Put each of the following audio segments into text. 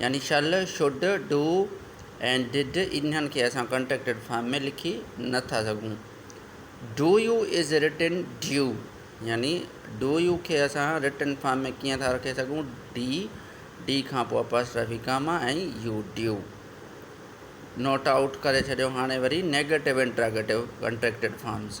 يعني shall, should, do ۽ did انهن کي اسان ڪنٽريڪٽڊ فارم ۾ لکي نه ٿا سگهون. Do you is written do يعني ڊو يو کي اسان رٽن فارم ۾ ڪيئن ٿا رکي سگهون ڊي ڊي کان پوء apostrophe comma ۽ U do not out ڪري ڇڏيو هاڻي وري نيگيٽو انٽراگيٽو ڪنٽريڪٽڊ فارمز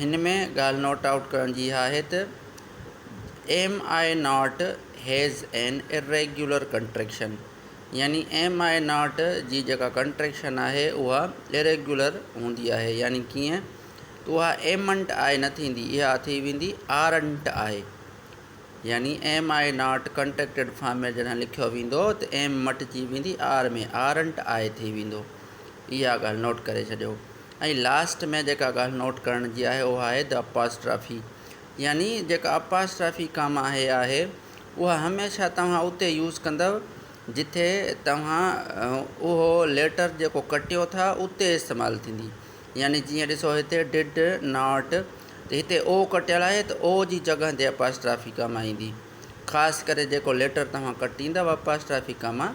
هن ۾ ڳالهه نوٽ آئوٽ ڪرڻ جي اها آهي ته am I not has an irregular contraction يعني ايم آء ناٽ جي جيڪا ڪنٽريڪشن آهي اها اريگيولر هوندي آهي يعني ڪيئن ته اها ايم انٽ آء نه ٿيندي اها ٿي ويندي آر انٽ آء يعني am I not contracted form ۾ جڏهن لکيو ويندو ته ايم مٽجي ويندي آر ۾ آر انٽ آء ٿي ويندو اها ڳالهه نوٽ ڪري ڇڏيو ۽ لاسٽ ۾ جيڪا ڳالهه نوٽ ڪرڻ جي آهي اها آهي The Apostrophe يعني جيڪا Apostrophe ڪاما آهي آهي اها هميشه توهان اتي يوز ڪندؤ جتي توهان اهو ليٽر جيڪو ڪٽيو ٿا اتي استعمال ٿيندي يعني جيئن ڏسو هتي Did Not ته هتي O ڪٽيل آهي ته O جي جڳهه تي Apostrophe ڪاما ايندي خاص ڪري جيڪو ليٽر توهان ڪٽيندا واپاسٽرافيڪا مان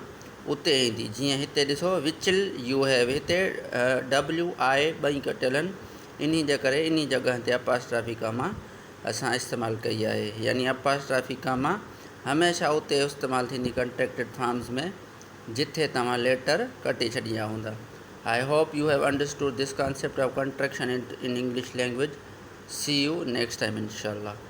اتي ايندي جيئن هتي ڏسو وچل يو هيو هتي ڊبليو آء ٻئي ڪٽيل آهن انهي جي ڪري انهي جڳهه تي اپاسٽرافيڪا مان اسان استعمال ڪئي آهي يعني اپاسٽرافيڪا مان هميشه اتي استعمال ٿيندي ڪنٽيڪٽيڊ فارمز ۾ جتي توهان ليٽر ڪٽي ڇڏيندا هوندا I hope you have understood this concept of contraction in English language see you next time انشاء الله